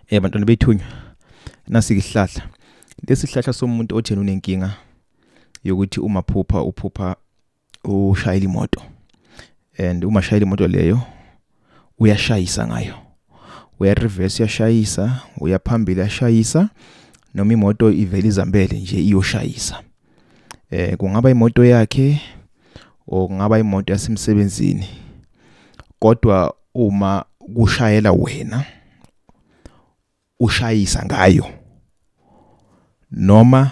Eh bantwana bethunywa nasihlahla lesihlahla somuntu othena unenkinga yokuthi uma phupha uphupha ushayela imoto and uma shayela imoto leyo uyashayisa ngayo uya reverse uyashayisa uyaphambili uyashayisa noma imoto ivela izambele nje iyoshayisa eh kungaba imoto yakhe or kungaba imoto yasemsebenzini kodwa uma kushayela wena ushayisa ngayo noma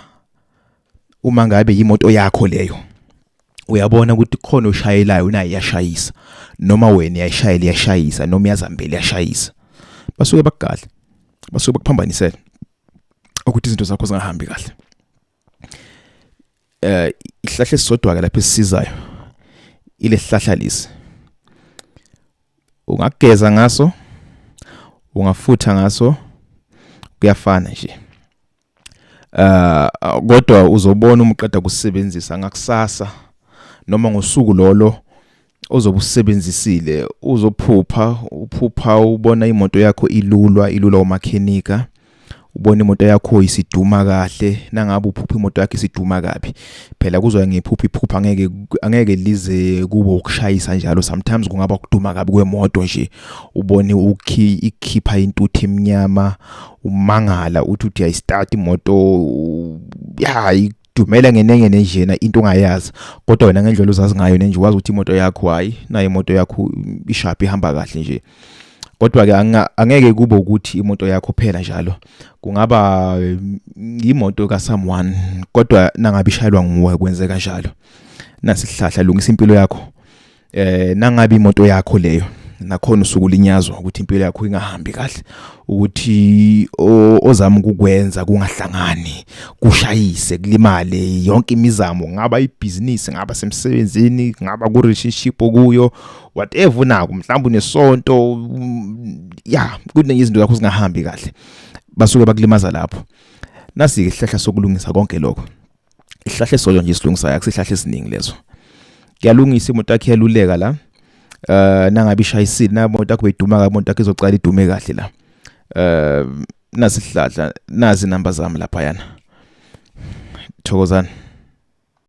uma ngabe yimoto yakho leyo uyabona ukuthi khona oshayelayo unaye yashayisa noma wena yayishayela yashayisa noma yazambele yashayisa basuke bakugadla basuke bakuphambanisela ukuthi izinto zakho zingahambi kahle eh ihlahla esisodwa ke lapha esisizayo ile hlahla lesi ungageza ngaso ungafutha ngaso kuyafana nje eh kodwa uzobona umuqeda kusebenzisa ngakusasa noma ngosuku lolo ozobe usebenzisile uzophupha uphupha ubona imoto yakho ilulwa ilulwa umakhenika ubona imoto yakho isiduma kahle nangabe uphupha imoto yakho isiduma kabi phela kuzoya ngephupha iphupha angeke angeke lize kube ukushayisa njalo sometimes kungaba ukuduma kabi kwemoto nje ubone ukhi ikhipha intuthu emnyama umangala uthi uthi ayistart imoto ya dumela ngenenye nenjena into ongayazi kodwa wena ngendlela uzazi ngayo nenje wazi ukuthi imoto yakho hayi nayo imoto yakho ishaphi ihamba kahle nje kodwa ke angeke kube ukuthi imoto yakho phela njalo kungaba mm, imoto ka someone kodwa nangabe ishayelwa nguwe kwenzeka njalo nasihlahla lungisa impilo yakho eh nangabe imoto yakho leyo nakhona usuku linyazwa ukuthi impilo yakho ingahambi kahle ukuthi ozama ukukwenza kungahlangani kushayise kulimale yonke imizamo ngaba ibhizinisi ngaba semsebenzini ngaba ku relationship okuyo whatever unako mhlawumbe unesonto mm, ya kuningi izinto zakho zingahambi kahle basuke bakulimaza lapho nasi ihlahla sokulungisa konke lokho isihlahla esisodwa nje silungisayo akusihlahla esiningi lezo kuyalungisa imoto yakhe yaluleka la eh nangabe ishayisile na imoto yakho beyiduma kabi imoto yakho izoqala idume kahle la eh nasihlahla nazi number zami lapha yana thokozani